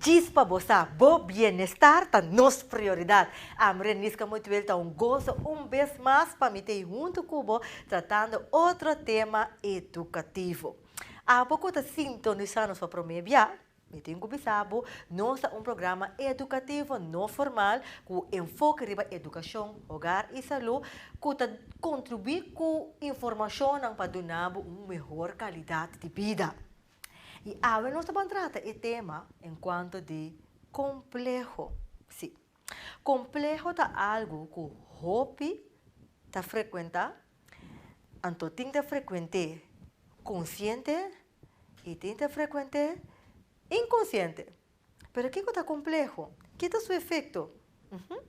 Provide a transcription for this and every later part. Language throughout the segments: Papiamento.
Djis pa bo sa, bo bienestar ta nos prioridad. Ami Renisca Moituel ta un goso un bes mas pa mi ta ei hunto cu bo tratando otro tema educativo. Abo cu ta sintoniza nos pa prome bia, mi tin cu bisa bo nos ta un programa educativo no formal cu enfoke riba educacion, hogar y salud cu ta contribui cu informacionnan pa duna bo un mehor calidad di bida. I awe nos ta por trata e tema enkuanto di kompleho. Sí, kompleho ta algu ku hopi ta frekuentá, anto tin ta frekuent'é konsiente i tin ta frekuent'é inkonsiente. Pero kico ta compleho? Ki ta su efecto? Uhum.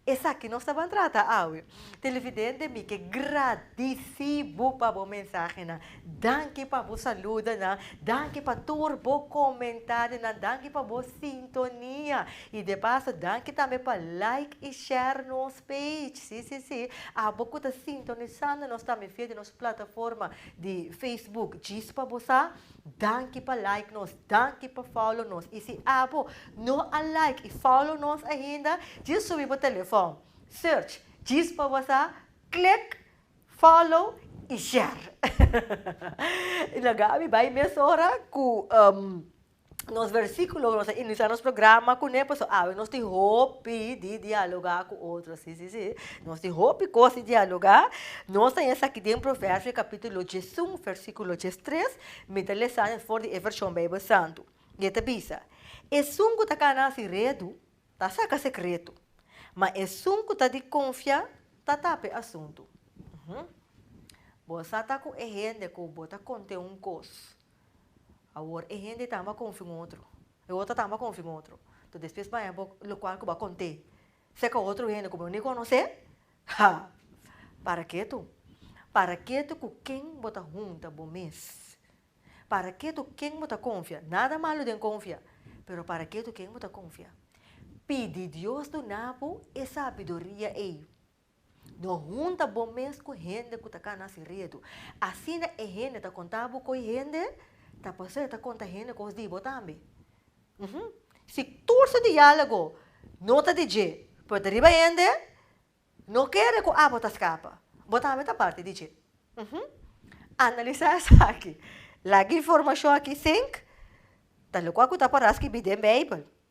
Esaki nos ta ban trata awe. Televidente mi ke gradisi bo pa bo mensahenan. Danki pa bo saludonan, danki pa tur bo comentarionan, danki pa bo sintonia. Y de paso danki tambe pa like y share nos page. Si, si, si. Abo cu ta sintonisando nos tambe via di nos plataforma di Facebook. Djis pa bo sa Danki pa like nos, danki pa follow nos y si abo no a like y follow nos ainda dje subi bo telefon search djis pa bo sa click follow y share y lo gabi bay mes ora cu nos versiculo nos a inicia nos programa cune pasobra awe nos tin hopi di dialoga cu otro si si si. Nos tin hopi kos di dialogá. Nos ta yesa aki den Proverbios capítulo diesun, versículo diestres. Mi ta lesa nes for di e vershon Bijbel Santu. I e ta bisa, Esun ku ta kana si redu, ta saka sekretu, ma esun ku ta di konfia, ta tapa e asuntu. Uhm. Bo sa ta ku e hende ku bo ta kont'é un kos, awor e hende tambe a konfia un otro, e otro tambe a konfia un otro. Entonces, despues baña bo lokual ku bo a kont'é. Seka otro hende ku bo ni konosé? Ha! Para ke tu? Para ke tu ku ken bo ta hunta bo mes? Para ke tu ken bo ta konfia? Nada malu den konfia, pero para ke tu ken bo ta konfia? Pidi Dios duna bo e sabiduria ei. Lo hunta bo mes ku hende ku ta kana si redu. Asina e hende ta konta bo ku e hende ta pasó e ta konta hende kos di bo tambe. Uhumm. Si tur su diálogo no ta di dje, pero ta riba hende, no kere ku abo ta skapa. Bo tambe ta parti di dje. Uhumm. Analisá esaki. Laga informashon aki sink, ta lukwa ku ta pará skibi den Beibel.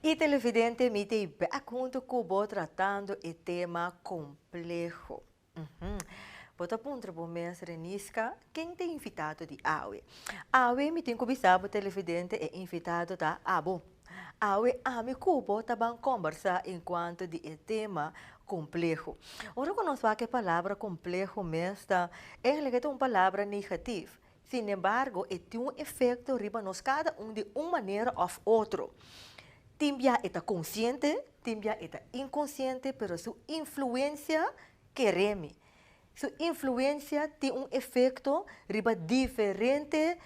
Y televidente mi t'ei back hunto cu bo tratando e tema compleho. Bo ta puntra bo mes Renisca, Ken ta invitado di awe? Awe mi tin cu bisa bo televidente e invitado ta abo. Awe ami cu bo ta ban combersa en cuanto di e tema compleho. Ora cu nos wak e palabra compleho mes ta eindelijk e ta un palabra negatief. Sin embargo e tin un efecto riba nos cada un di un manera of otro. Tin bia e ta consciente, tin bia e ta inconsciente pero su influencia ke remi. Su influensia tin un efekto riba diferente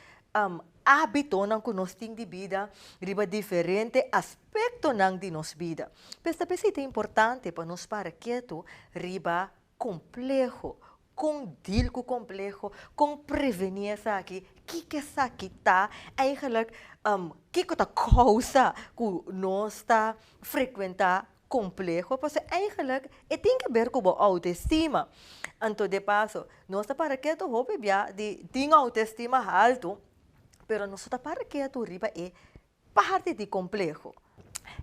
ábitonan ku nos tin di bida, riba diferente aspektonan di nos bida. P'esei ta bistá importante pa nos para ketu riba kompleho, kon dil ku kompleho, kon prevení esaki, kiko esaki ta, kiko ta kousa ku nos ta frekuentá. Complejo pasobra eigenlijk e tin ke ber cu bo autoestima. Anto de paso nos ta para ketu hopi bia di tin autoestima haltu pero nos no ta para ketu riba e parti di complejo.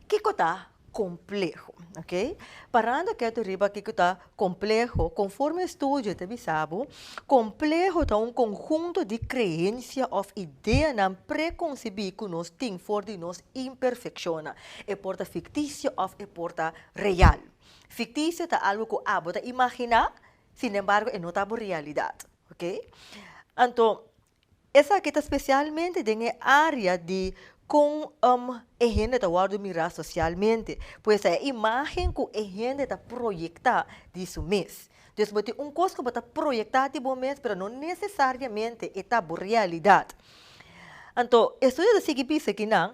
Kiko ta complejo? Ok. Parando ketu riba kiko ta Kompleho. Konforme e studio ta bisa bo, kompleho ta un konhunto di kreensia òf ideanan prekonsibí ku nos tin for di nos imperfekshonnan. E por ta fiktisio òf e por ta real. Fiktisio ta algu ku abo ta imaginá, sinembargo e no ta bo realidat. Oke? Anto. Esaki ta spesialmente den e área di kon e hende ta wòrdu mirá sosialmente. Pues ta e imágen ku e hende ta proyektá di su mes. Dus bo tin un kos ku bo ta proyektá di bo mes pero no nesesariamente e ta bo realidat. Anto e estudio ta sigui bisa kinan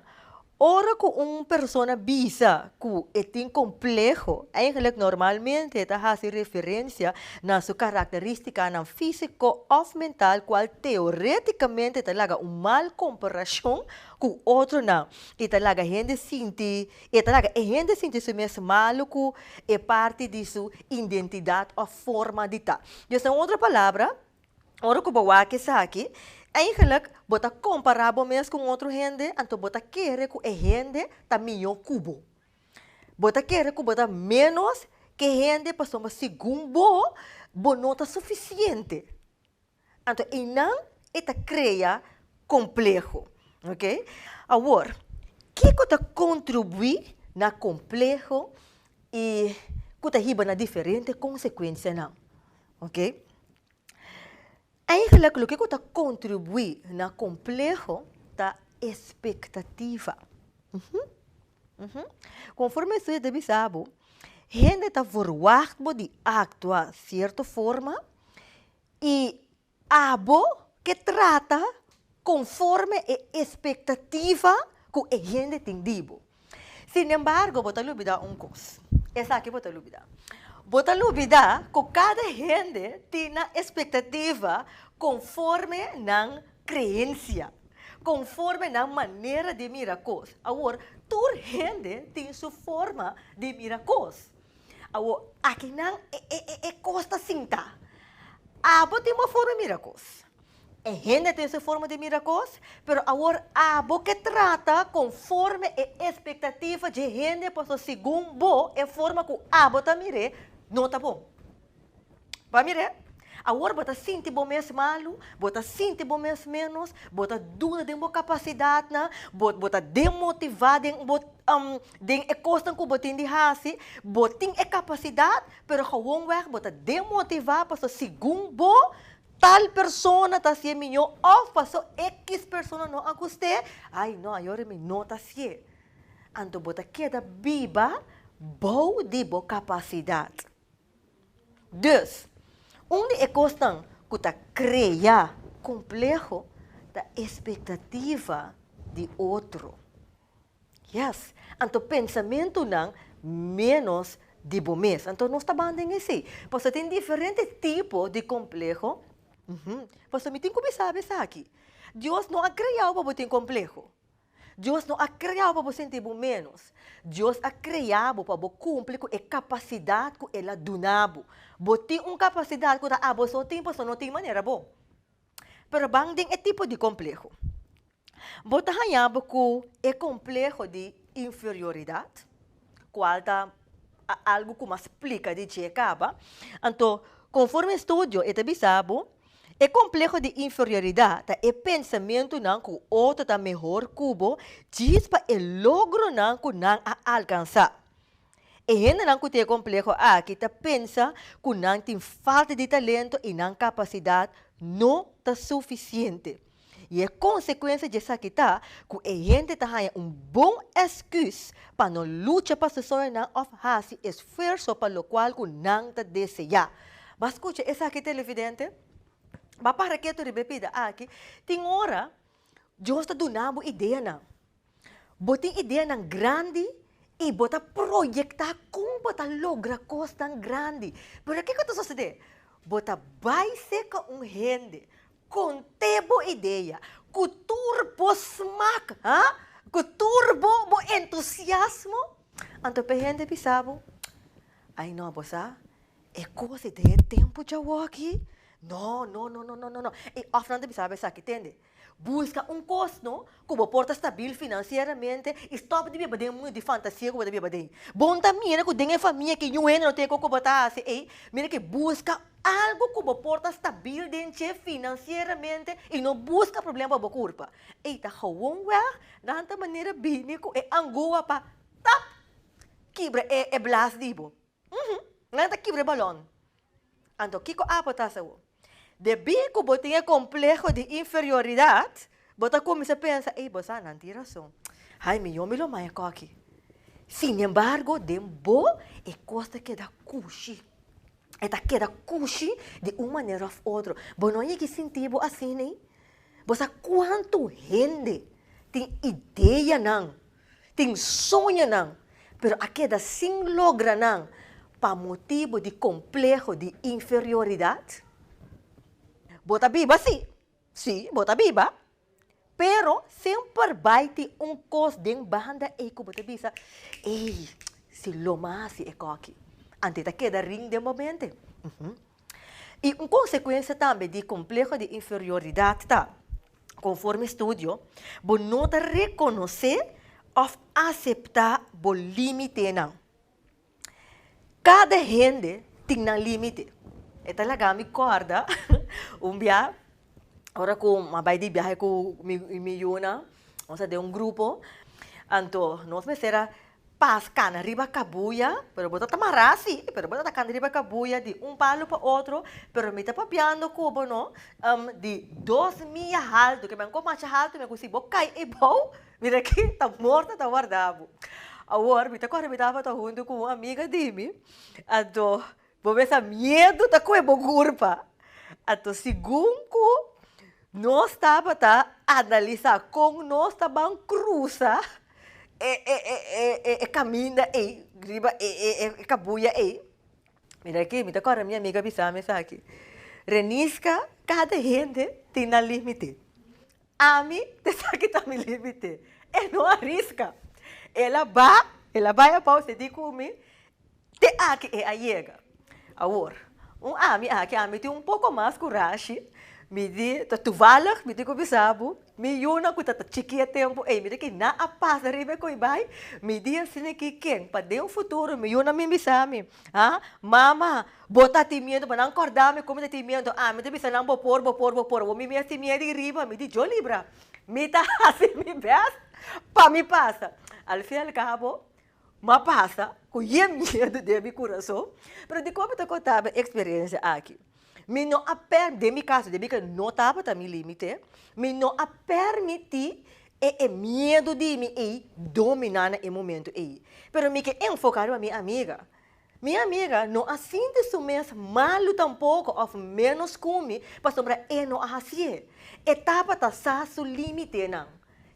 Ora ku un persona bisa ku e tin kompleho, eigenlik normalmente e ta hasi referensia na su karakterístikanan físiko òf mental kual teorétikamente ta laga un mal komparashon ku otronan i ta laga hende sinti i ta laga e hende sinti su mes malu ku e parti di su indentidat òf forma di ta. Des na un otro palabra, Ora ku bo wak esaki, eingelik bo ta kompará bo mes ku un otro hende, anto bo ta kere ku e hende ta mihó ku bo. Bo ta kere ku bo ta ménos ke hende pasobra segun bo, bo no ta sufisiente. Anto einan e ta krea kompleho, oke. Awor, kiko ta kontribuí na kompleho i ku ta hiba na diferente konsekuensianan. Oke. Eigenlijk loke ku ta kontribuí na kompleho ta e spektativa. Konforme e studio ta bisa bo, hende ta verwagt bo di aktua sierto forma i Abo ke trata konforme e espektativa ku e hende tin di bo. Sinembargo, bo ta lubidá un kos. Esaki bo ta lubidá. Bo ta lubidá ku kada hende tin nan espektativa konforme nan kreensia, konforme nan manera di mira kos. Awor, tur hende tin su forma di mira kos. Awor, aki nan e, e, e, e kos ta sinta. Abo tin bo forma mira kos. E hende tin su forma di mira kos, pero awor abo ke trata konforme e espektativa dje hende, pasobra segun bo, e forma ku abo ta mir'é no ta bon. Pa mir'é, awor bo ta sinti bo mes malu, bo ta sinti bo mes ménos, bo ta duda den bo kapasidatnan, bo bo ta demotivá den bo den e kosnan ku bo tin di hasi. Bo tin e kapasidat, pero gewonwèg bo ta demotivá pasobra segun bo, tal persona ta hasié mihó òf pasó ekis persona no a gust'é, ai no ayora mi no ta hasié. Anto bo ta keda biba bou di bo kapasidat. Dus, un di e kosnan ku ta krea kompleho ta espektativa di otro. Yes, anto pensamentunan ménos di bo mes. Anto nos ta ban den esei. Pasobra tin diferente tipo di kompleho. Pasobra mi tin ku mi sabi esaki, Dios no a kreau pa bo tin kompleho. Dios no a krea bo pa bo sinti bo ménos. Dios a krea bo pa bo kumpli ku e kapasidat ku el a duna bo. Bo tin un kapasidat ku ta aboso tin, pasobra no tin manera bo. Pero ban den e tipo di kompleho. Bo ta haña bo ku e kompleho di inferioridat? kual ta algu ku mas plika di dje kaba. Anto, konformi e studio e ta bisa bo, e kompleho di inferioridat ta e pensamentunan ku otro ta mehor ku bo djis pa e logronan ku nan a alkansá. E hendenan ku tin e kompleho aki ta pensa ku nan tin falta di talento i nan kapasidat no ta sufisiente. I e konsekuensia di esaki ta ku e hende ta haña un bon èskùs pa no lucha pa su soñonan òf hasi esfuerso pa lokual ku nan ta deseá. M'a skucha esaki televidente. M'a para ketu riba e bida aki, Tin ora Dios ta duna bo ideanan. Bo tin ideanan grandi i bo ta proyektá kon bo ta logra kosnan grandi. Pero kiko ta sosodé? Bo ta bai serka un hende, kont'é bo idea ku tur bo smak, ha? Ku tur bo bo entusiasmo. Anto p'e hende bisa bo, Ai nò, bo sa, e kos di den e tempu djawoki, nò, nò, nò, nò, nò, nò, nò. I òf nan ta bisa bo esaki, tende? Buska un kos no ku bo por ta stabil finansieramente i stòp di biba den mundu di fantasia ku bo ta biba den. Bo ta mira ku den e famia ke yu hende no tene kon ku bo ta hasi ei, mira ke buska algu ku bo por ta stabil den dje finansieramente i no buska problema pa bo kurpa. Ei ta gewonweg nan ta manera bini ku e angoa pa tap! kibra e blas di bo. Uhu, nan ta kibra e balon. Anto kiko Apo ta hasi awo? Debí ku bo tin e kompleho di inferioridat, bo ta kuminsá pensa, Ei, bo sa, nan tin rason. Ai, mi yombe lo maya kòki. Sinembargo, den bo e kos ta keda kushi. E ta keda kushi di un manera òf otro. Bo no a yega sinti bo asina ei? Bo sa kuantu hende tin ideanan? Tin soñonan, pero a keda sin logra nan pa motibu di kompleho di inferioridat? Bo ta biba si. Si, bo ta biba. Pero semper bai tin un kos den banda ei ku bo ta bisa, Ei, si lo mi a hasi ekoki, anto e ta keda ring den bo mente. I un konsekuensia tambe di kompleho di inferioridad ta, Conforme studio, bo no ta reconoce of acepta bo limitenan. Cada hende tin nan limite. E ta laga mi corda un bia, ora cu mi a bai di biahe cu mi yunan, nos a den un grupo, anto nos mester a Pas kana riba kabuya, pero bo ta ta mará si, pero bo ta ta kana riba kabuya di un palu pa otro, pero mi ta papiando ku bo no, em, di dos mia haltu, ke mi a ko masha haltu mi, ku si bo kai ei bou, mira aki ta morto ta warda bo. Awor, mi ta kòrda mi tabata huntu ku un amiga di mi, a do. Bo mesa miedu ta koe bo kurpa. Anto sigun ku nos tabata analisá kon nos ta ban krusa e kaminda ei riba e kabuya ei. Mira aki, mi ta kòrda mi amigu a bisa mi esaki, Reniska, kada hende tin nan límite. Ami ta esaki ta mi límite. E no a riska. El a bai, el a bai a bou, seguí ku mi. Te aki e a yega. Awor, un ami aki, ami tin un poko mas kurashi, mi di, ta tuvalig, mi tin ku bisa bo, mi yunan ku ta ta chiki e tempu ei, mi di ki nan a pasa riba e ko'i bai, mi di asina aki ken pa den futuro mi yunan mi bisa mi, ha, mama, bo ta tin miedu, bo nan korda mi kon mi ta tin miedu, ami ta bisa nan bo por, bo por, bo por, awor mi mes tin miedu ei riba, mi di yo libra, mi ta hasi mi bèst pa mi pasa, al fin al cabo. M'a pasa ku yen miedu den mi kurason, pero dikon mi ta konta mi eksperensia aki? Mi no a per, den mi kaso debí ke no tabata mi límite, mi no a permití e e miedu di mi ei dominá na e momentu ei. Pero mi ke enfoká riba mi amiga. Mi amiga no a sinti su mes malu tampoko òf ménos kumi pasobra e no a hasié. E tabata sa su límitenan.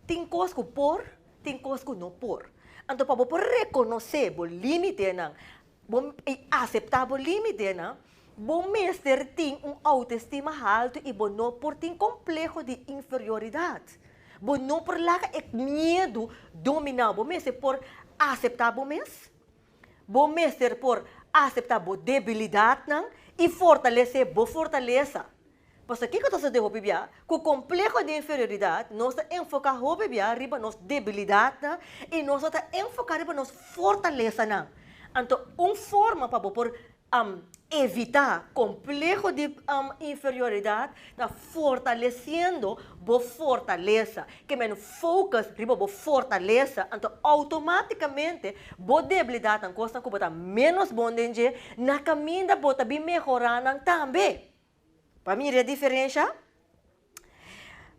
Tin kos ku por, tin kos ku no por. Anto pa bo por rekonosé bo límitenan bo i aseptá bo límitenan, bo mester tin un outoestima haltu i bo no por tin kompleho di inferioridat. Bo no por laga e miedu dominá bo mes. E por aseptá bo mes. Bo mester por aseptá bo debilidatnan i fortalesé bo fortalesa. Pasobra kiko ta sucedé hopi bia? Ku kompleho di inferioridat nos ta enfoká hopi bia riba nos debilidatnan i nos no ta enfoká riba nos fortalesanan. Anto un forma pa bo por evitá kompleho di inferioridat ta fortalesiendo bo fortalesa. Ke men focus riba bo fortalesa, anto outomaticamente bo deblidatnan, kosnan ku bo ta ménos bon den dje, na kaminda bo ta bin mehorá nan tambe. Pa mira e diferensha,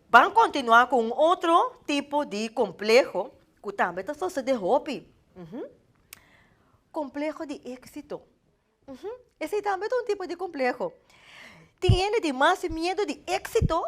ban kontinuá ku un otro tipo di kompleho ku tambe ta sosodé hopi, kompleho di éksito. Esei tambe ta un tipo di kompleho. Tin hende tin mas miedu di éksito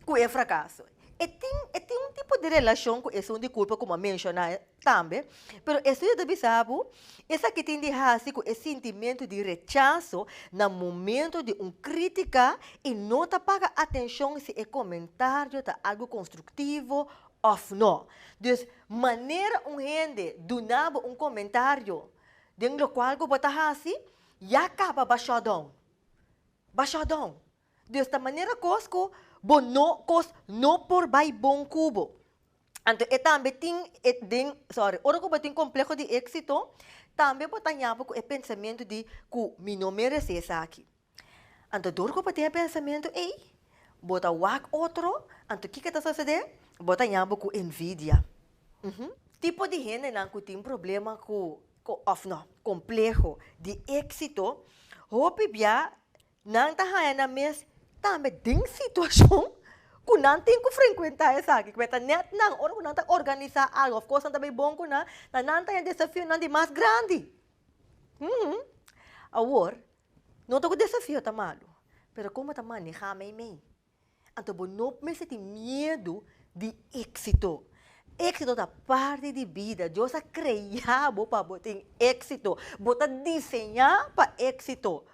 ku e frakaso. E tin e tin un tipo di relashon ku esun di kulpa ku m'a menshoná tambe, pero e studio ta bisa bo esaki tin di hasi ku e sintimentu di rechaso na momentu di un krítika i no ta paga atenshon si e komentario ta algu konstruktivo òf no. Dus manera un hende duna bo un komentario den lokual ku bo ta hasi, ya kaba ba shòtdòn. Ba shòtdòn. Di esta manera kos ku bo no kos no por bai bon ku bo. Anto e tambe tin e den sorry ora ku bo tin kompleho di éksito tambe bo ta yama ku e pensamentu di ku mi no meresé esaki. Anto dor ku bo tin e pensamentu ei bo ta wak otro anto kiko ta sosodé bo ta yama ku envidia. Tipo di hendenan ku tin problema ku òf nò kompleho di éksito hopi bia Nan ta haña nan mes tambe den situacion cu nan tin cu frecuenta esaki, cu mester net nan ora cu nan ta organisa algo of cosnan ta bay bon cu nan, na nan ta haña desafionan di mas grandi. Hm, awor, no ta cu desafio ta malu, pero como ta maneha meimei? Anto bo no mester tin miedu di exito. Exito ta parti di bida. Dios a crea bo pa bo tin exito. Bo ta diseña pa exito.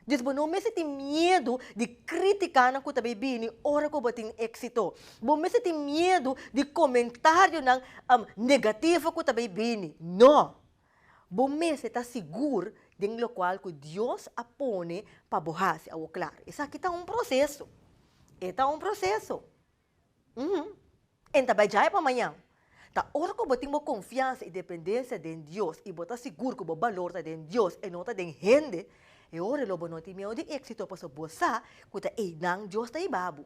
Dus bo no mester tin miedu di criticanan cu ta bay bini ora cu bo tin exito. Bo mester tin miedu di comentarionan negativo cu ta bay bini. No! Bo mester ta sigur den lokual ku Dios a pone pa bo hasi. Awor klaru, esaki ta un proseso. E ta un proseso. Uhu. E no ta bai djaya pa mañan. Ta ora ku bo tin bo konfiansa i dependensia den Dios i bo ta sigur ku bo balor ta den Dios, e no ta den hende, e ora lo bo no tin miedu di éksito pasobra bo sa ku ta einan Dios ta iba bo.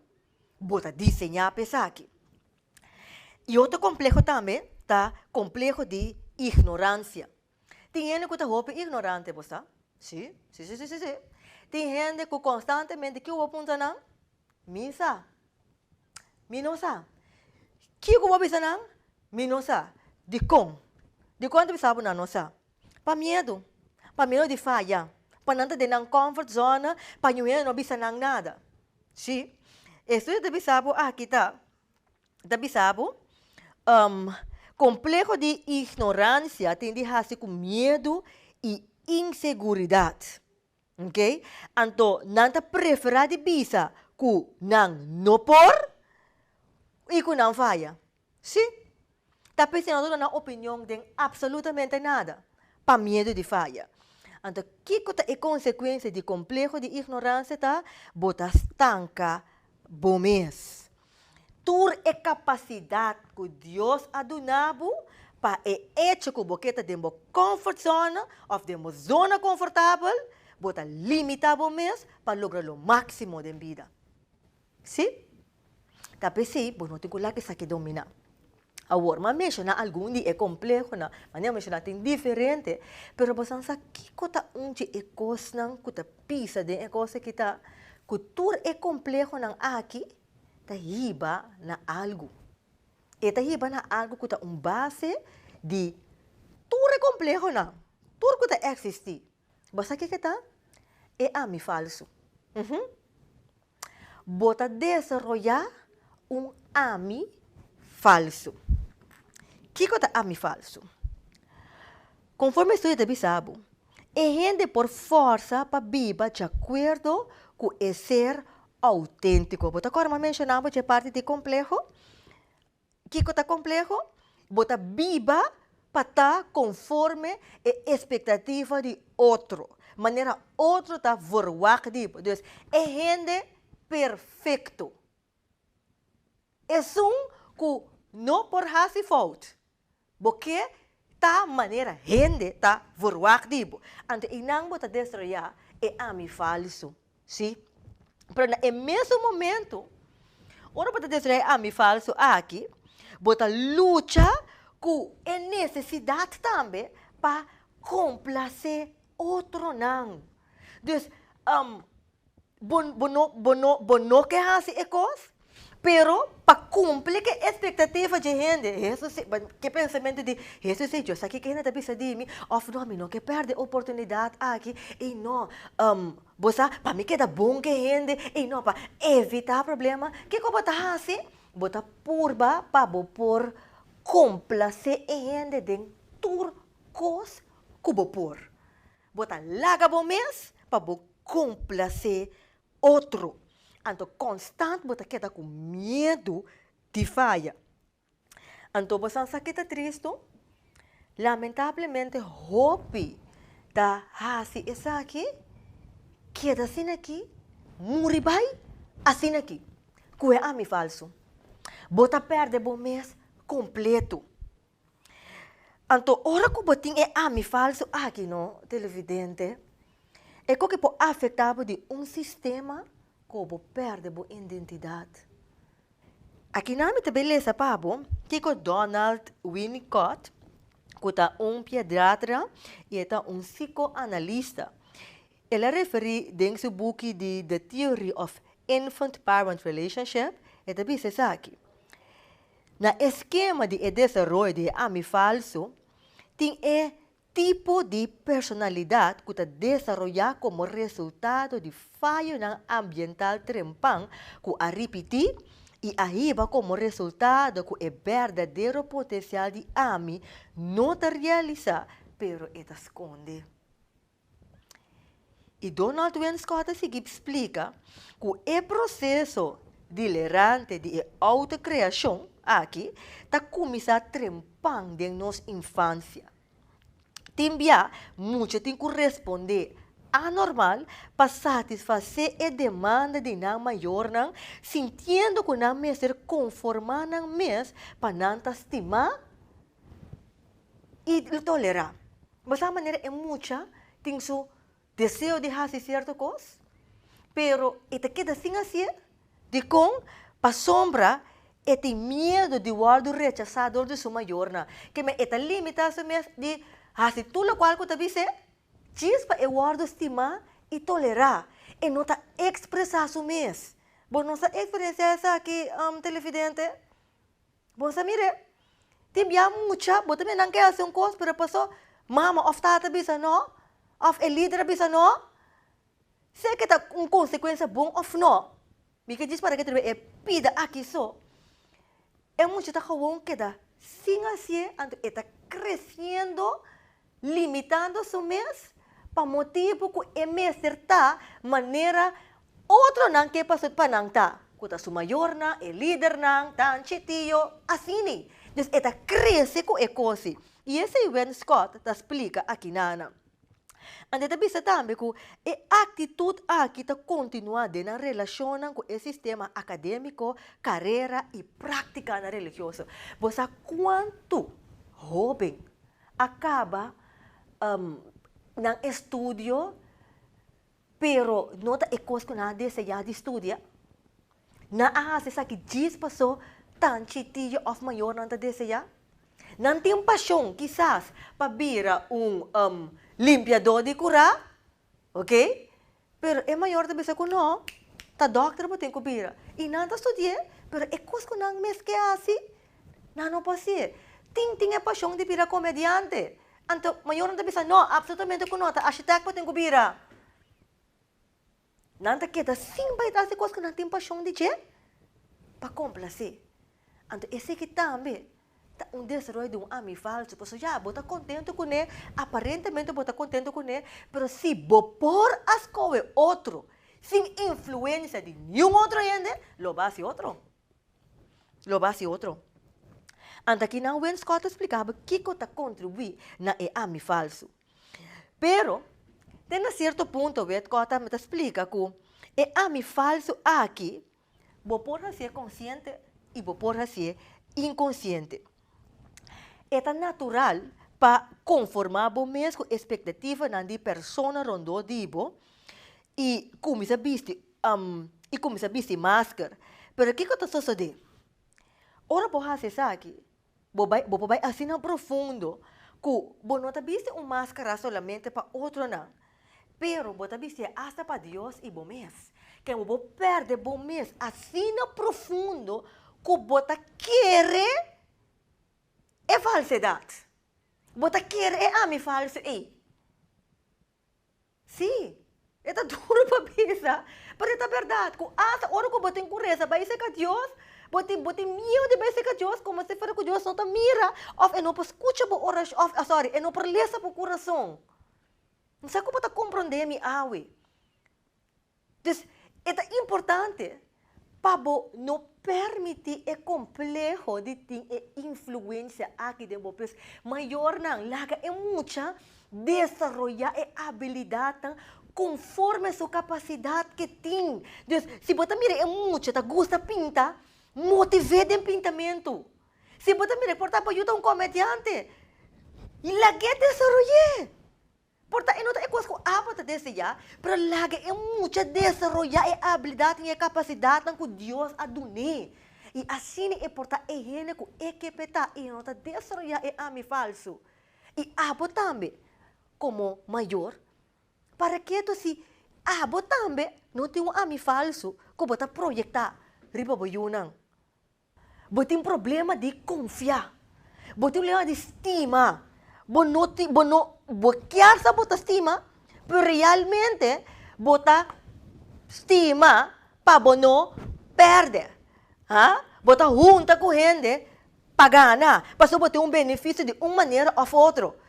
Bo ta diseñá pa esaki. E otro compleho tambe ta compleho di ignorancia. Tin hende cu ta hopi ignorante, bo sa? Sí, sí, sí, sí, sí, sí. Tin hende cu constantemente, kico bo puntra nan? Mi sa? Mi no sa? Kico bo bisa nan? Mi no sa? Dicon? Dicon ta bisa bo nan no sa? Pa miedu. Pa miedu di faya. Pa nan ta den nan comfort zona, pa ñu hende no bisa nan nada. Sí. E estudio ta bisa bo aki ta, ta bisa bo, compleho di ignorancia tin di haci cu miedu y inseguridad. Ok, anto nan ta preferá di bisa ku nan no por i ku nan faya? Sí. Ta p'esei noso no duna opinion den apsalutamente nada pa miedu di faya. Anto kiko ta e konsekuensia di kompleho di ignoransia? Ta bo ta stanka. Bo mes. Tur e kapasidat ku Dios a duna bo pa e echo ku bo ke ta den bo comfort zone òf den bo zona konfortabel, bo ta limitá bo mes pa logra lo máksimo den bida. Sí? Ta p'esei bo no tin ku laga esaki dominá. Awor, m'a menshoná algun di e komplehonan. Manera menshoná tin diferente, pero boso a sa kiko ta un dje e kosnan ku ta pisa den e kos aki ta ku tur e komplehonan aki ta hiba na algu. E ta hiba na algu ku ta un base di tur e komplehonan, tur ku ta eksistí. Bo sa kiko ta? E ami falsu. Uhumm. Bo ta desaroyá un ami falsu. Kiko ta ami falsu? Konforme estudio ta bisa bo, e hende por fòrsa pa biba diakuerdo ku e ser outéntiko. Bo ta kòrda mi a menshoná bo dje parti di kompleho? Kiko ta kompleho? Bo ta biba pa ta konforme e espektativa di otro, manera otro ta verwagt di bo. Dus, e hende perfekto, esun ku no por hasi fout, Bo ke ta manera hende ta vorwak di bo, anto einan bo ta destroyá e ami falsu. Sí. Pero na e mesun momentu, ora bo ta destroyá e ami falsu aki, bo ta lucha ku e nesesidat tambe pa komplasé otronan. Dus, um. Bo, bo, no, bo, no, bo no ke hasi e kos, pero pa kumpli ke espektativa dje hende, Hesus se, ke pensamentu di Hesus se, Yo sa kiko hende ta bisa di mi, òf no, mi no ke pèrdè oportunidat aki, ei no, um, bo sa, pa mi keda bon ke hende, ei no, pa evitá problema, kiko bo ta hasi? Bo ta purba pa bo por komplasé e hende den tur kos ku bo por. Bo ta laga bo mes pa bo complacé otro. Anto constant bo ta keda cu miedu di faya. Anto bo sa sa ki ta tristo? Lamentablemente hopi ta haci esaki, keda asina aki, muri bay asina aki, cu e ami falso. Bo ta perde bo mes completo. Anto ora ku bo tin e ami falsu aki no, televidente, e kon ke por afektá bo di un sistema ku bo pèrdè bo indentidat. Aki nan mi ta bin lesa pa bo kiko Donald Winnicott, ku ta un piedratra i e ta un sikoanalista, el a referí den su buki di The Theory of Infant-Parent Relationship, e ta bisa esaki, Na e skema di e desaroyo di e ami falso, tin e tipo di personalidat ku ta desaroyá komo resultado di fayonan ambiental trempan ku a ripití i a hiba komo resultado ku e berdadero potensial di ami no ta realisá pero e ta skonde. I Donald Wenschoot a sigui splika ku e proseso dilerante di e outo-kreashon aki ta kuminsá trempan den nos infansia. Tin bia mucha tin ku respondé anormal pa satisfasé e demanda di nan mayornan sintiendo ku nan mester konformá nan mes pa nan ta stimá i lo tolerá. Bo sa manera e mucha tin su deseo di hasi sierto kos, pero e ta keda sin hasié? Dikon? Pasobra e tin miedu di wòrdu rechasá dor di su mayornan. Ke men e ta limitá su mes di hasi tur lokual ku ta bis'é? Djis pa e wòrdu stimá i tolerá, e no ta ekspresá su mes. Bo no sa eksperensiá esaki, Televidente? Bo sa mir'e, tin bia mucha, bo ta mira nan ke hasi un kos, pero paso mama of tata a bisa no, of e lider a bisa no, si eke ta un konsekuensia bon of no, mi ke djis parakit riba e pida aki so, e mucha ta gewoon keda sin hasié, anto e ta kresiendo Limitando su mes pa motibu ku e mester ta manera otronan ke pasobra pa nan ta, ku ta su mayornan, e lidernan, tanchi, tio, asini. Dus e ta krese ku e kosi. I esei Wynn Scott ta splika aki na nan. Ant e ta bisa tambe ku e aktitut aki ta kontinuá den nan relashonnan ku e sistema akadémiko, karera i práktikanan religioso. Bo sa kuantu hóben a kaba nan estudio pero no ta e kos ku nan a deseá di studia, nan a hasi esaki djis pasó tan chitiu òf mayor nan ta deseá. Nan tin pashon kisas pa bira un limpiadó di kurá. Ok, pero e mayor ta bisa cu no, ta doctor bo tin cu bira. Y nan ta studié, pero e cos cu nan mes ke haci, nan no por hacié. Tin tin e pasion di bira comediante. Anto mayor nan ta bisa no, absolutamente cu no, ta architect bo tin cu bira. Nan ta keda sin bay tras di cos cu nan tin pasion di dje, pa complace. Anto eseki tambe. Ta un desaroyo di un ami falsu, pasobra ya bo ta contento cu ne, aparentemente bo ta contento cu ne, pero si bo por a scoge otro sin influencia di niun otro hende, lo bo a haci otro, lo bo a haci otro. Anto aki nan Wayne Scott a splicaba kico ta contribui na e ami falsu. Pero, den na cierto punto Wayne Scott ta splica cu e ami falsu aki, Bo por hasié konsiente i bo por hasié inkonsiente. E ta natural pa konformá bo mes ku e spektativanan di persona rondó di bo i kuminsá bisti i kuminsá bisti masker. Pero kiko ta sosodé ora bo hasi esaki? Bo bai, bo por bai asina profundo ku bo no ta bisti un maskara solamente pa otronan, pero bo ta bistié asta pa Dios i bo mes. Ke bo por pèrdè bo mes asina profundo ku bo ta kere e falsedat, bo ta kere e ami falsu ei. Sí, e ta duru pa bisa, pero e ta berdad, cu asta ora cu bo tin cureza bay seca Dios, bo tin, bo tin mieu di bay seca Dios como si fuera cu Dios no ta mira, of e no por scucha bo oracion, of, of sorry, e no por lesa bo curason. M'sa cu bo ta comprende mi awe. Dus e ta importante pa bo no permití e kompleho di tin e influensia akí den bo. Pues, mayornan, laga e mucha desaroyá e abilidatnan konforme su kapasidat ke tin. Dus, si bo ta mira e mucha ta gusta pinta, motiv'é den pintamentu. Si bo ta mira, por ejemplo, yu ta un komediante, lag'é desaroy'é. Por ta e no ta e kos ku abo ta desde ya, pero laga e mucha desaroyá e abilidat i e kapasidatnan ku Dios a dun'é. I asina e por ta e hende ku e ke petá i e no ta desaroyá e ami falsu. I abo tambe, komo mayor, parakee to si abo tambe no tin un ami falsu ku bo ta proyektá riba bo yunan? Bo tin problema di konfiá. Bo tin problema di stima. Bo no tin, bo no, bo kier sa bo ta stima, pero realmente bo ta stima pa bo no pèrdè. Haa? Bo ta hunta ku hende pa gana, pasobra bo tin un beneficio di un manera òf otro.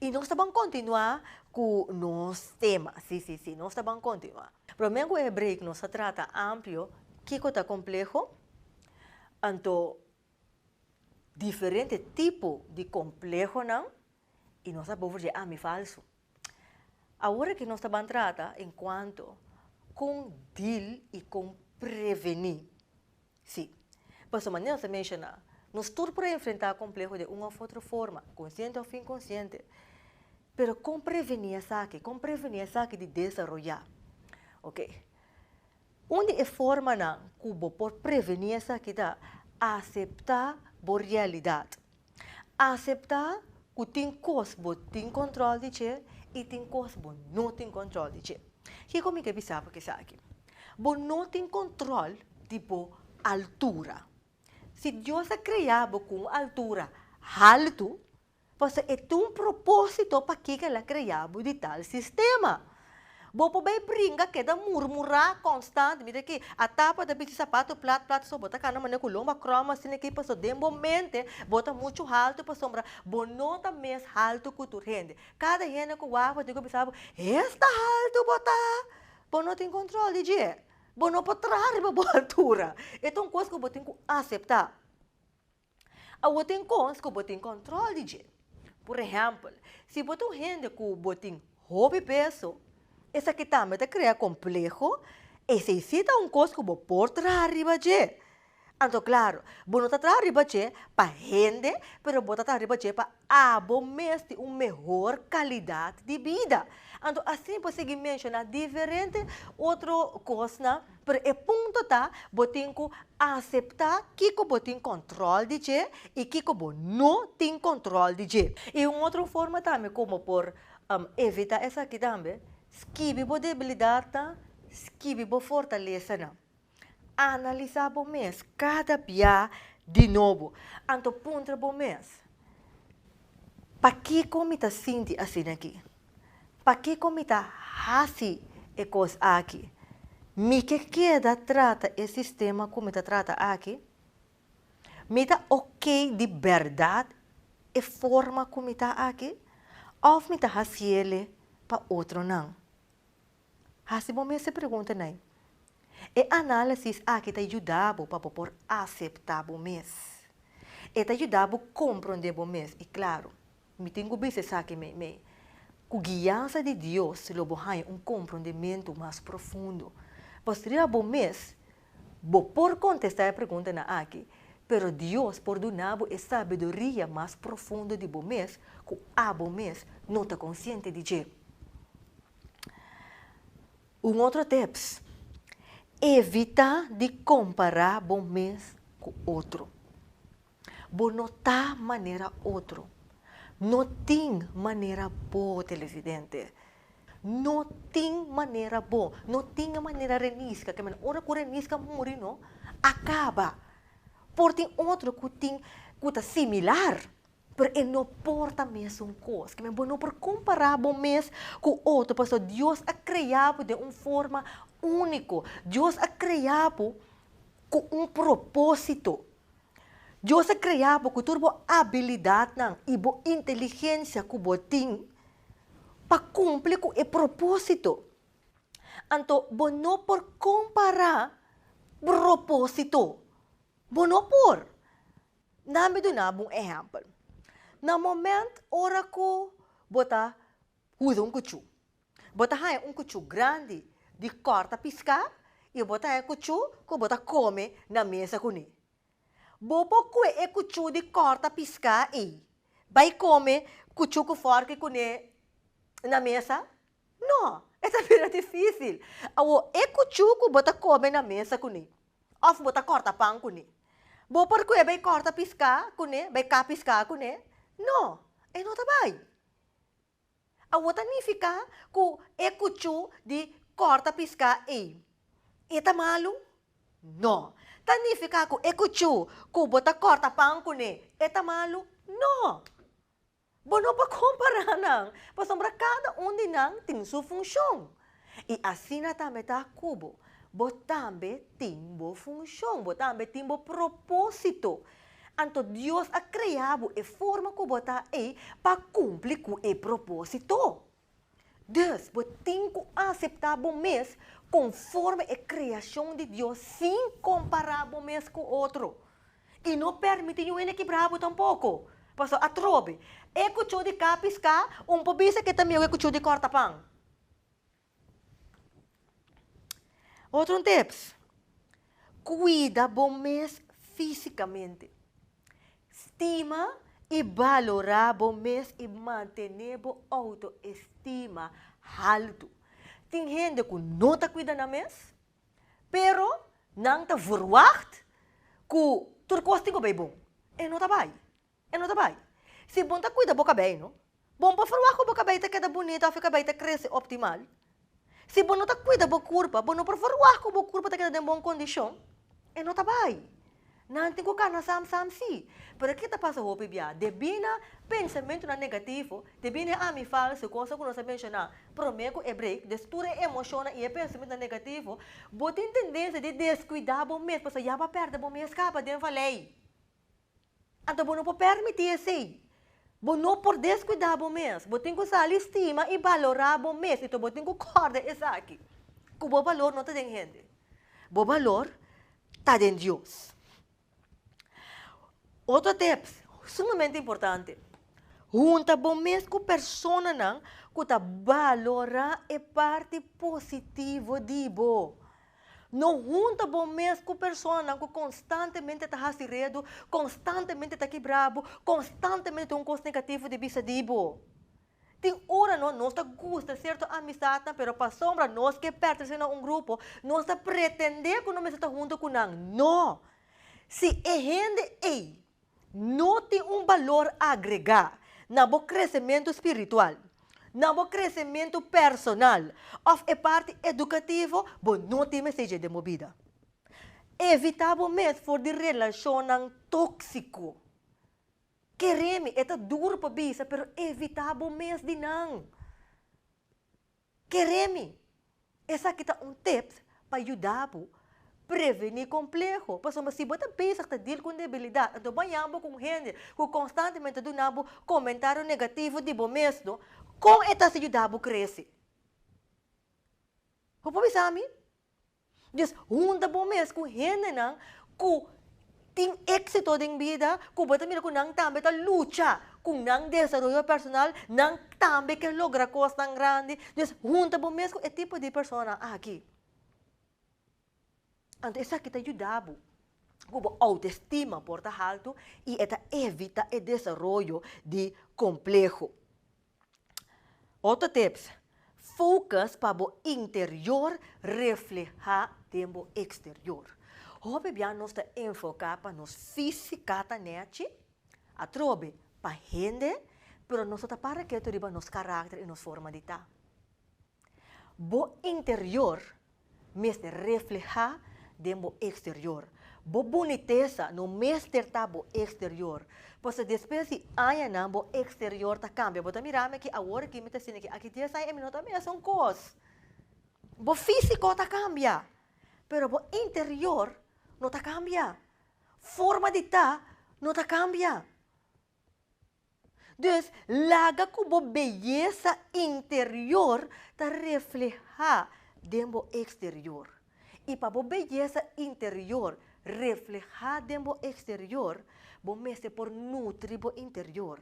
Y nos ta ban continua cu nos tema, si, si, si, nos ta ban continua. Prome cu e break nos a trata amplio kico ta compleho, anto diferente tipo di complehonan y nos a bobo dje ami falso. Awor aki nos ta ban trata en cuanto con deal y con preveni Sí. Pasobra manera nos a menshoná, nos tur por a enfrentá kompleho den un òf otro forma, konsiente òf inkonsiente. Pero kon prevení esaki? Kon prevení esaki di desaroyá? Oke. Un di e formanan ku bo por prevení esaki ta aseptá bo realidat. Aseptá ku tin kos bo tin kòntròl di dje i tin kos bo no tin kòntròl di dje. Kiko mi ke bisa bo esaki? Bo no tin kòntròl di bo altura. Si Dios a krea bo ku un altura haltu, pasobra e tin un propósito pakiko el a krea bo di tal sistema. Bo por bay bringa keda murmurá konstant, mira aki, a tapa ta bichi sapato plat plat so bo ta kana manera ku lomba kròm asina aki paso den bo mente bo ta muchu haltu pasobra bo no ta mes haltu ku tur hende. Kada hende ku wak diku bisa bo, hes ta haltu bo ta! Bo no tin kòntròl di dje. Bo no por traha riba bo altura. E ta un kos ku bo tin ku aseptá. Awor tin kos ku bo tin kòntròl di dje. Pur ehèmpel, si bo ta un hende ku bo tin hopi peso, esaki tambe ta krea kompleho. Esei sí ta un kos ku bo por traha riba dje. Anto, klaru, bo no ta traha riba dje pa hende, pero bo ta traha riba dje pa Abo mester un mehor kalidad di bida. Anto asina por sigui menshoná diferente otro kosnan, pero e punto ta bo tin ku aseptá kiko bo tin kòntròl di dje i kiko bo no tin kòntròl di dje. I un otro forma tambe ku bo por evitá esaki tambe, skibi bo debilidatnan, skibi bo fortalesanan. Analisá bo mes kada bia di nobo. Anto puntra bo mes, Pakiko mi ta sinti asina aki? Pakiko mi ta hasi e kos aki? Mi ke keda trata e sistema ku mi ta trata aki? Mi ta okey di bèrdat e forma ku mi ta aki òf mi ta hasiele pa otronan? Hasi bo mes e preguntanan. E análisis aki ta yuda bo pa bo por aseptá bo mes. E ta yuda bo komprondé bo mes. I klaru, mi tin ku bisa esaki mei, mei. Ku guiansa di Dios lo bo haña un komprondementu mas profundo. Pasobra riba bo mes bo por kontestá e preguntanan aki, pero Dios por duna bo e sabiduria mas profundo di bo mes ku abo mes no ta konsiente di dje. Un otro tips, evita di compara bo mes cu otro. Bo no ta manera otro. No tin manera bo, televidente. No tin manera bo. No tin e manera Renisca. Ora cu Renisca muri no, a caba. Por tin otro cu tin, cu ta similar. Pero e no por ta mesun kos. Kimen bo no por kompará bo mes ku otro, pasobra Dios a kreá bo den un forma úniko. Dios a kreá bo ku un propósito. Dios a kreá bo ku tur bo abilidatnan i bo inteligensia ku bo tin pa kumpli ku e propósito. Anto bo no por kompará propósito. Bo no por. Nan mi duna bo un ehèmpel. Na moment ora ku bo ta huda un kuchú, bo ta haña un kuchú grandi di kòrta piská i bo ta haña kuchú ku bo ta kome na mesa kuné. Bo por kue e kuchú di kòrta piská ei bai kome kuchú ku fòrke kuné na mesa? No, e ta bira difísil. Awor, e kuchú ku bo ta kome na mesa kuné òf bo ta kòrta pan kuné, bo por kue bai kòrta piská kuné, bai ka piská kuné? No, e no ta bai. Awor ta nifiká ku e kuchú di kòrta piská ei e ta malu? No. Ta nifiká ku e kuchú ku bo ta kòrta pan kuné e ta malu? No. Bo no por kompará nan, pasobra kada un di nan tin su funshon. I asina tambe ta ku bo, bo tambe tin bo funshon, bo tambe tin bo propósito. Anto Dios a krea bo e forma ku bo ta ei pa kumpli ku e propósito. Dus, bo tin ku aseptá bo mes konforme e kreashon di Dios sin kompará bo mes ku otro. I no pèrmití un hende kibrá bo tampoko. Pastor, atrobe, e kuchó di kaa piská un por bisa ke ta mihó ku e kuchó di kòrta pan? Otro un tips, cuida bo mes físicamente. Stima y valora bo mes y mantene bo autoestima haltu. Tin hende cu no ta cuida nan mes, pero nan ta verwacht cu tur cos tin cu bay bon. E no ta bay. E no ta bai. Si bon ta cuida bo cabei no, bon por verwa cu bo cabei ta keda bunita of e cabei ta crece optimal. Si bo no ta cuida bo curpa, bo no por verwa cu bo curpa ta keda den bon condicion. E no ta bai. Nan tin cu cana sam sam si. Pero ki ta pasa hopi bia? Debi na pensamentonan negativo, debi na e ami falso, cosa cu nos a menciona prome cu e break, des tur e emocionnan y e pensamentonan negativo, bo tin tendencia di descuida bo mes, pasobra ya bo a perde bo mes caba den valei. Anto bo no por permití esei. Bo no por deskuidá bo mes. Bo tin ku sali stima i balorá bo mes i to bo tin ku kòrda esaki, ku bo balor no ta den hende. Bo balor ta den Dios. Otro tips sumamente importante, hunta bo mes ku personanan ku ta balorá e parti positivo di bo. No hunta bo mes ku personanan ku konstantemente ta hasi redu, konstantemente ta kibra bo, konstantemente ta un kos negativo di bisa di bo. Tin ora no, nos ta gusta sierto amisdatnan, pero pasobra nos ke pèrtese na un grupo, nos ta pretendé ku no mester ta huntu ku nan. No! Si e hende ei No tin un balor agregá na bo kresementu spiritual, na bo kresementu personal òf e parti edukativo, bo no tin mester dje den bo bida. Evitá bo mes for di relashonnan tóksiko. Keré mi, e ta duru pa bisa, pero evitá bo mes di nan. Kere mi! Esaki ta un tips pa yuda bo preveni kompleho. Pasobra si bo ta bezig ta deal con debilidat, anto baña bo con hende cu constantemente ta duna bo comentario negativo di bo mesno, con e ta hasi yuda bo crece? Bo por bisa mi? Dios hunta bo mes ku hendenan ku tin éksito den bida, ku bo ta mira ku nan tambe ta lucha ku nan desaroyo personal, nan tambe ke logra kosnan grandi. Dios hunta bo mes ku e tipo di personanan aki. Anto esaki ta yuda bo ku bo outoestima por ta haltu i e ta evita e desaroyo di kompleho. Otro tips, Focus pa bo interior refleha den bo exterior. Hopi bia nos ta enfoca pa nos fisicata nechi, atrobe pa hende, pero nos no ta para ketu riba nos caracter y nos forma di ta. Bo interior mester reflehá den bo eksterior. Bo bunitesa no mester ta bo eksterior. Pasobra despues di añanan bo eksterior ta kambia. Bo ta mira, mi aki awor aki mi ta sina aki. Aki dies aña e mi no ta mesun kos. Bo físiko ta kambia, pero bo interior no ta kambia. Forma di ta no ta kambia. Dus, laga ku bo beyesa interior ta reflehá den bo eksterior. I pa bo beyesa interior reflehá den bo eksterior, bo mester por nutri bo interior.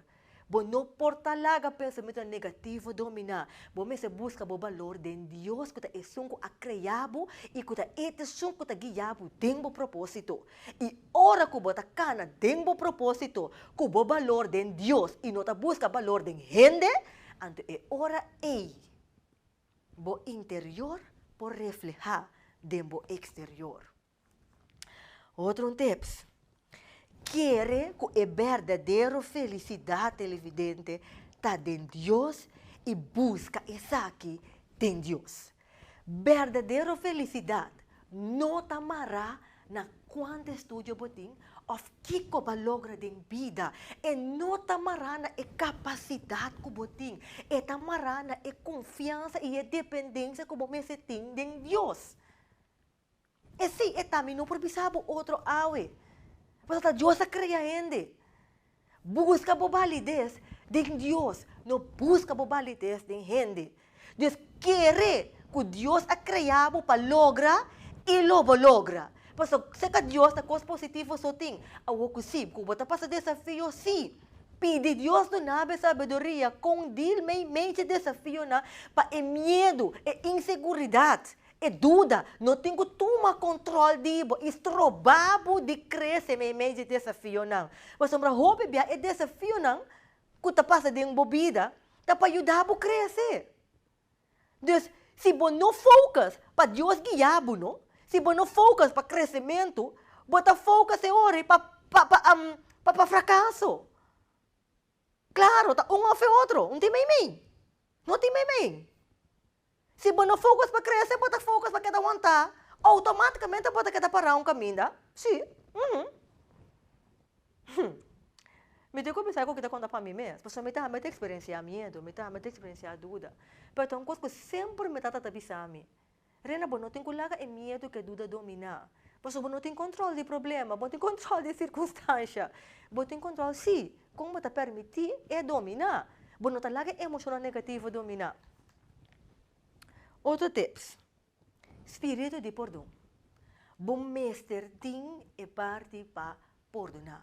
Bo no por ta laga pensamentunan negativo dominá. Bo mester buska bo balor den Dios, ku ta Esun ku a krea bo i ku ta e Esun ku ta guia bo den bo propósito. I ora ku bo ta kana den bo propósito ku bo balor den Dios i no ta buska balor den hende, anto e ora ei bo interior por reflehá den bo eksterior. Otro un tips, Kere ku e berdadero felisidat, televidente, ta den Dios i buska esaki den Dios. Berdadero felisidat no ta mará na kuantu estudio bo tin òf kiko bo a logra den bida. E no ta mará na e kapasidat ku bo tin. E ta mará na e konfiansa i e dependensia ku bo mester tin den Dios. E si, e ta, mi no por bisa bo otro awe. Pasobra ta Dios a krea hende. Buska bo balides den Dios, no buska bo balides den hende. Des kere ku Dios a krea bo pa logra i lo bo logra. Paso seka Dios ta kos positivo so tin. Awor ku si, ku bo ta pasa desafio si, pidi Dios duna bo e sabiduria kon dil mei meije desafionan pa e miedu, e inseguridat. E duda no tin ku tuma kòntròl di bo i stroba bo di krese meimei di desafionan. Pasobra hopi bia e desafionan ku ta pasa den bo bida ta pa yuda bo krese. Dus, si bo no fokus pa Dios guia bo, no, si bo no fokus pa kresementu, bo ta fokus e ora ei pa pa pa frakaso. Klaro, ta un òf e otro, no tin meimei, no tin meimei. Si bo no focus pa crece bo ta focus pa keda wanta automaticamente bo ta keda para un caminda si uhmm hum mi tin cu bisa cu kita conta pa mi mes pasobra mi ta ami ta experencia miedo mi ta ami ta experencia duda pero ta un cos cu semper mi tata ta bisa mi Rina bo no tin cu laga e miedo cu e duda domina pasobra bo no tin control di problema bo tin control di circunstancia bo tin control si con bo ta permiti e domina bo no ta laga e emocionnan negativo domina Otro tips, spiritu di pordon. Bo mester tin e parti pa pordoná.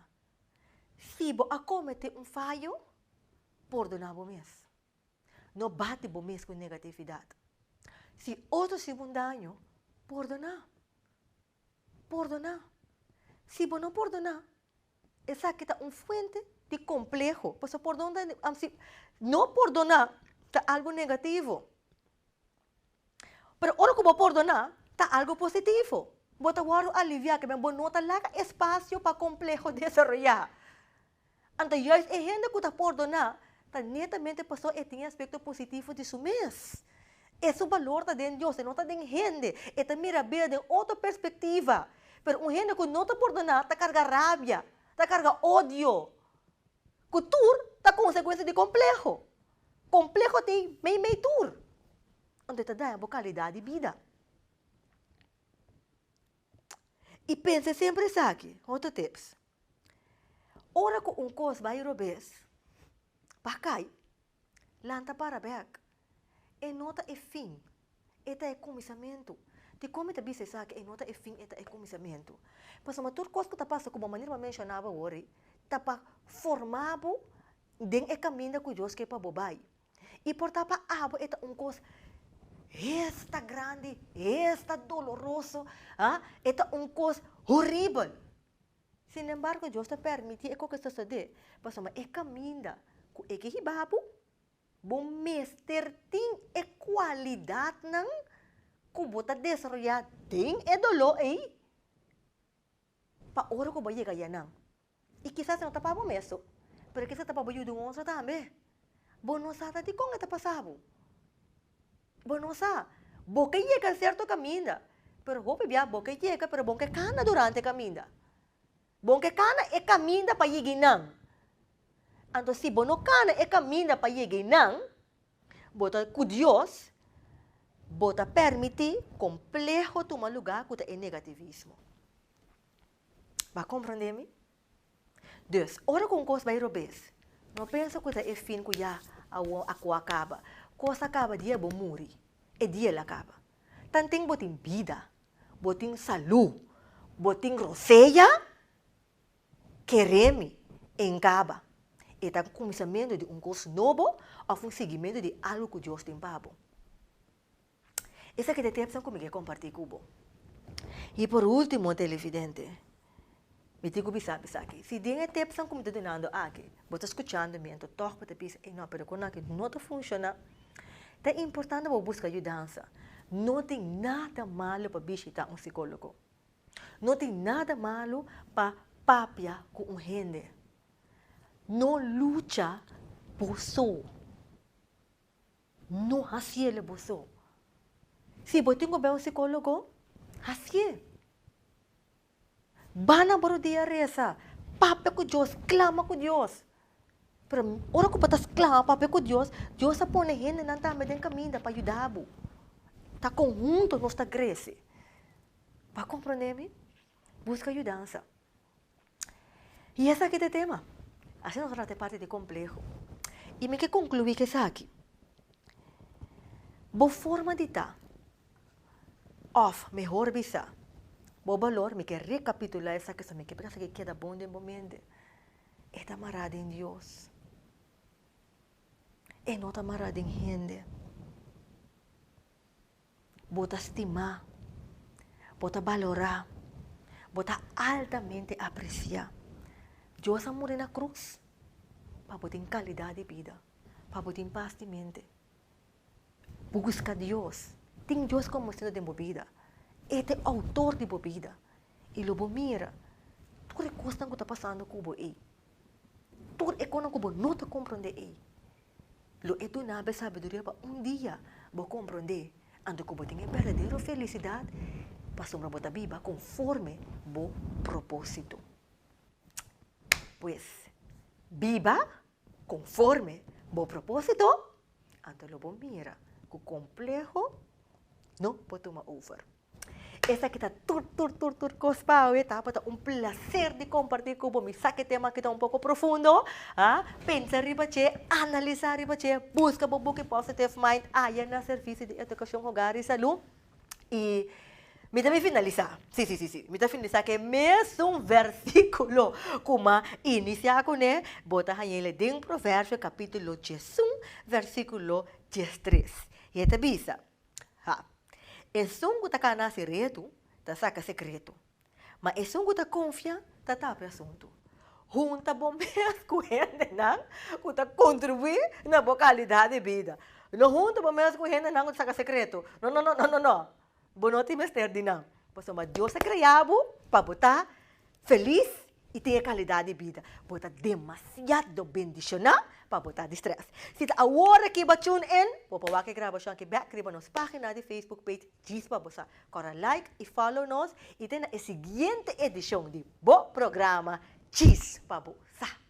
Si bo a kometé un fayo, pordoná bo mes. No bati bo mes ku negatividat. Si otro hasi bo un daño, pordoná. Pordoná. Si bo no pordoná, esaki ta un fuente di kompleho. Pasobra pordon ta nifiká, si no pordoná ta algu negativo. Pero ora ku bo pordoná, ta algu positivo. Bo ta wòrdu aliviá, ke bo no ta laga espasio pa kompleho desaroyá. Anto juis e hende ku ta pordoná ta netamente pasobra e tin e aspekto positivo di su mes. E su balor ta den Dios, e no ta den hende. E ta mira bida den otro perspektiva. Pero un hende ku no ta pordoná ta karga rabia, ta karga odio, ku tur ta konsekuensia di kompleho. Kompleho ta ei meimei tur. Anto e ta daña bo kalidat di bida. I pensa semper esaki, otro tips. Ora ku un kos bai robes, pa kai, lanta para bek. E no ta e fin, e ta e kuminsamentu. Dikon mi ta bisa esaki, e no ta e fin, e ta e kuminsamentu? Pasobra tur kos ku ta pasa, komo manera bo a menshonaba wori, ta pa forma bo den e kaminda ku Dios ke pa bo bai. I por ta pa abo e ta un kos hesta grandi, hesta doloroso, a e ta un kos horibel. Sin embargo, Dios ta permiti e cosnan sosode, pasobra e caminda cu e ke hiba bo, bo mester tin e cualidadnan cu bo ta desaroya den e dolo ey, pa ora cu bo a yega allá nan. Y kisas no ta pa bo mes so, pero kisas ta pa bo yuda un otro tambe. Bo no sa ta dikon e ta pasa bo. Bo no sa. Bo ke yega serto kaminda, pero hopi bia bo ke yega pero bon ke kana durante e kaminda. Bon ke kana e kaminda pa yega einan. Anto si bo no kana e kaminda pa yega einan, bo ta ku Dios bo ta permiti kompleho tuma lugá ku ta e negativismo. Bo a komprondé mi? Dus, ora ku un kos bai robes, no pensa ku ta e fin ku ya awor a ku a kaba. Kos a kaba dia bo muri, e dia el a kaba. Tanten bo tin bida, bo tin salú, bo tin rosea, keremi e ngaba e ta un kuminsamentu di un kos nobo òf un sigimentu di algu ku Dios tin pa bo. Esaki ta e temponan ku mi ke kompartí ku bo. I por último, televidente, mi tin ku bisa bo esaki, si den e temponan ku mi ta dunando aki, bo ta skuchando mi anto tòg bo ta bisa, ei no, pero e kos aki no ta funshoná, ta importante pa bo buska yudansa. No tin nada malu pa bishitá un sikólogo. No tin nada malu pa papia ku un hende. No lucha bo so. No hacielo boso. Si bo tin cu bay un psicologo, hacie. Ba na bo rodia a reza, papia cu Dios, clama cu Dios. Pero ora cu bo ta clama, papia cu Dios, Dios a pone hendenan tambe den caminda pa yuda bo. Ta conhunto nos ta grece. Bo a comprende mi? Busca yudansa. Y esaki t'e tema. Asina nos a trata e parti di compleho. Y mi ke conclui cu esaki. Bo forma di ta, of mehor bisa, bo balor, mi ke recapitula esaki so, mi ke pensa ke keda bon den bo mente, e ta mara den Dios. E no ta mara den hende. Bo ta stimá, bo ta balorá, bo ta altamente apresiá. Dios a muri na krus pa bo tin kalidat di bida, pa bo tin pas di mente. Bo buska Dios, tin Dios komo Señor den bo bida. E ta e Outor di bo bida. I lo bo mira tur e kosnan ku ta pasando ku bo ei. Tur e konan ku bo no ta komprondé ei, lo e duna bo e sabiduria pa un dia bo komprondé, anto ku bo tin e berdadero felisidat, pasobra bo ta biba konforme bo propósito. Pues, biba konforme bo propósito, anto lo bo mira ku kompleho no por tuma over. Esaki ta tur tur tur tur cos pa awe ta por ta un placer di comparti cu bo mi sa cu e tema aki ta un poco profundo ha pensa riba ce analisa riba ce busca bo buki Positive Mind aya na servicio di Educacion Hogar y Salud y mi ta bin finalisa si si si mi ta finalisa cu e mesun versiculo cu mi a inicia cu ne bo ta haya ele den Proverbio capitulo diesun versiculo diestres y e ta bisa. Ha. Esun ku ta kana seretu, ta saka sekretu. Ma esun ku ta konfia, ta tapi asuntu. Hunta bo mes ku hendenan ku ta kontribuí na bo kalidat di bida. No hunta bo mes ku hendenan ku ta saka sekretu. No, no, no, no, no, no! Bo no tin mester di nan. Pasobra Dios a krea bo pa bo ta felis i tin e kalidat di bida. Bo ta demasiado bendishoná pa bo ta distrés. Si ta awor aki bo a tune in, bo por wak e grabashon aki bèk riba nos página di Facebook Page djis pa bo sa. Kòrda like i fòlow nos i den na e siguiente edishon di bo programa djis pa bo sa.